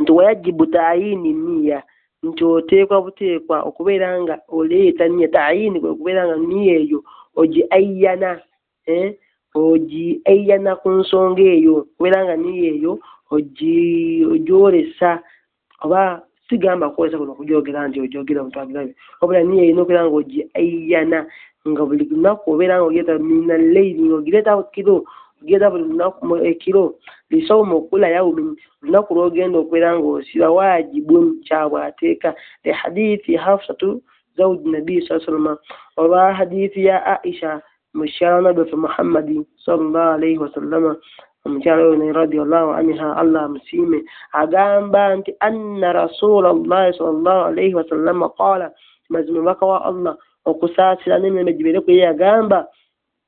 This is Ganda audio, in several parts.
nti wayajibu tayini niya nti oteekwa buteekwa okubeera nga oleeta niya tayini kwe kubeera nga niya eyo ogi ayyana eh? ogi ayyana ku nsonga eyo okubeera nga niya eyo ogyolesa oba sigamba kwolesa kuno okugyogera nti ogyogera omuntu agirabe wabula niya erina okubeera nga ogi ayyana nga buli lunaku obeera nga ogireeta mina leiri nga ogireeta kiro ogireeta buli lunaku ekiro lisawuma okula yawumini lunaku lwogenda okubeera ng'osiba wajibun kyabwe ateeka li hadithi hafsatu zauji nabii saa salama olwa hadithi ya aisha mukyala nabbi waffe muhammadi salllah alaihi wasallama omukyala oyo naye radiallahu anha allah amusiime agamba nti anna rasula llahi salllah alaihi wasallama qaala mazima omubaka wa allah okusaasira n'emirembe gibeere kuye yagamba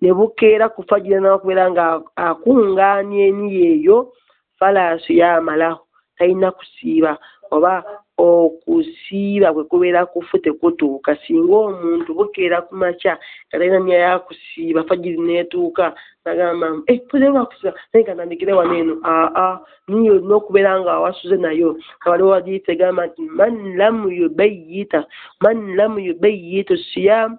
ne bukeera ku fajiri nakubeera nga akungaanya eniyo eyo falaasu yamalahu talina kusiiba oba okusiiba kwe kubeera kufu tekutuuka singa omuntu bukeera ku makya nga talina niya yakusiiba fajiri neetuuka nagamba eh, kusiiba naye nga nandikire wano eno aa niyo olina okubeera nga awasuze nayo kawaliwo wadiifu egamba nti man lam yubayita man lam yubayitu siyaamu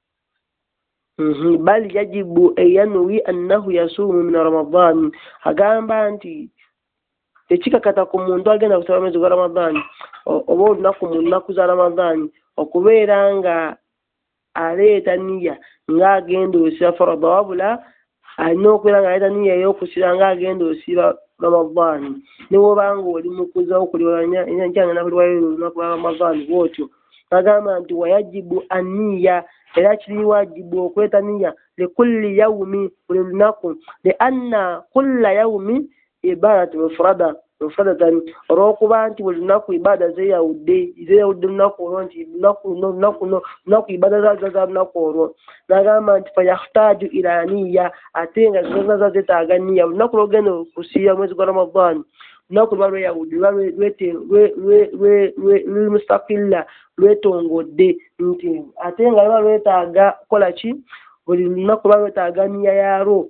Mhm, bal yajibu eyanwi annahu yasuumu min ramadan agamba nti tekikakata ku muntu agenda kusaba mwezi gwa ramadan oba olunaku mu nnaku za ramadan okubeera nga aleeta niya ng'agenda osiba farada wabula alina okubeera nga yalina niya ey'okusiba nga agenda osiba ramadaani ne wobanga oli mukuza okuliwalanykyangenda kuliwayo olunaku lwa ramadaani bwotyo agamba nti wayajibu aniya era kiri wajibu okweta niya likulli yaumi buli lunaku lianna kulla yaumi ibadat mufrada mufradatan olwokuba nti buli lunaku ibaada zeyawudde zeyawudde lunaku olwo nti lunaku luno lunaku luno lunaku ibaada zaza za lunaku olwo nagamba nti fayahtaju ila niya ate nga zaza zetaaga niya lunaku lwogenda okusiiba mwezi gwa ramadan lunaku luba lweyawudde luba luli mustakilla lwetongodde nti ate nga luba lwetaaga kukola ki buli lunaku luba lwetaaga niya yalwo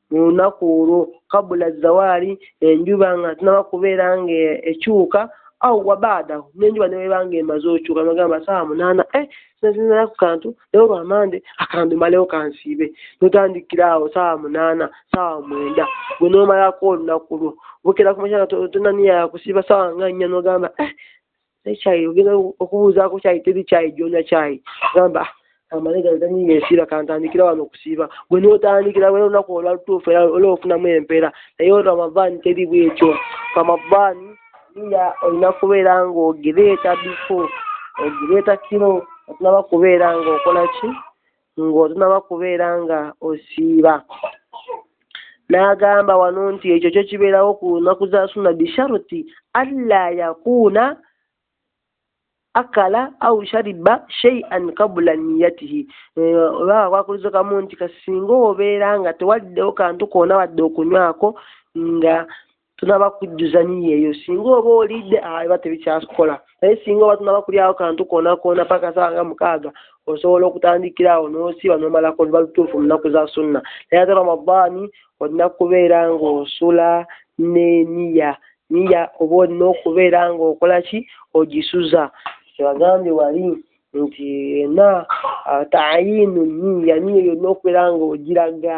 mu lunaku olwo kabula zawaali enjuba nga tunaba kubeera nga ekyuka awo wabaadaho nenjuba neweba nga emaze okyuka nogamba saawa munaana e eh, nazinala ku kantu naye olwamande akantu malewo kansiibe notandikira awo saawa munaana saawa mwenda gwe nomalako olunaku lwo bukera kumakyana tonaniyakusiiba saawa nga nnya nogamba e eh, naye kyayi ogenda okubuuzaako kyayi teri kyayi joonya kyayi gamba ah, amale gano tanyinga esiira kantandikira wano okusiiba gwe notandikira wera olunaku olwatuufu era ola ofunamu empeera naye ramadaani teri bwekyo ramadaani iya olina kubeera ng'ogireeta bifo ogireeta kiro otunaba kubeera ng'okola ki ng'otunaba kubeera nga osiiba n'agamba wano nti ekyo kyo kibeerawo ku lunaku za sunna bisharuti alla yakuuna akala au shariba sheian kabula niyatihi olwaba eh, kwakulizo kamu nti kasinga obeera nga tewaddewo kantu koona wadde okunywako nga tunaba kujjuza niyo eyo singa oba olidde ah, eba tebikyakola naye singa oba tunaba kulyawo kantu konakoona paka sawa nga mukaaga osobola okutandikira awo n'osiba n'omalako oluba lutuufu mu nnaku za sunna naye ate ramadaani olina kubeera ng'osula n'eniya niya oba olina okubeera ng'okola ki ogisuza kyebagambye wali nti ena ah, tayinu niya niyo yonna okubeera ng'ogiraga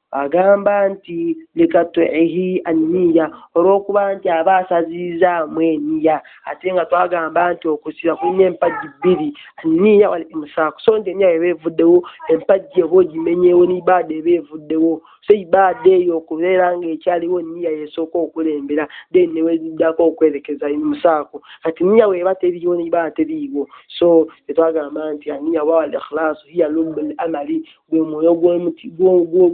Agamba nti, Likatwihi anniya, olw'okuba nti aba asazizzaamu eniya, ate nga twagamba nti okusiba kulina empagi bbiri, anniya wal imsaaku, so nti eniya bw'eba evuddewo, empagi oba ogimenyeewo ne ibaada eba evuddewo, so ibaada eyo okubeera nga ekyaliwo niya y'esooka okulembera then ne weziddako okwerekeza imsaaku, kati niya bw'eba teriiwo ne ibaada teriiwo, so kye twagamba nti anniya oba al ikhlaasu hiya lubbul amali, gwe mwoyo gw'omuti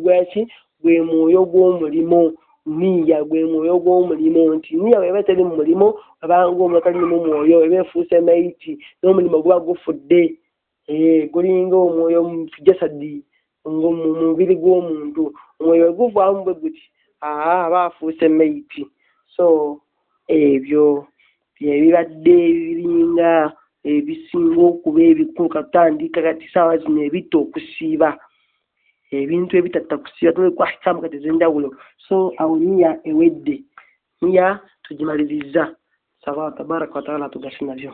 gwaki gwe mwoyo gw'omulimu niya gwe mwoyo gw'omulimu nti niya weba teri mu mulimu abanga omuntu ali mu mwoyo eba efuuse mayiti n'omulimu guba gufudde eh, gulinga omwoyo mujasadi mu mubiri gw'omuntu omwoyo weguvaamu bwe guti aa aba afuuse mayiti so ebyo byebibadde ebiringa ebisinga okuba ebikulu katandika kati saawa zino ebitta okusiiba ebintu ebitatta kusiiba tunekwahikamu kati ezenjawulo so awo niya ewedde niya tugimalirizza saba tabaraka wataala tugase nabyo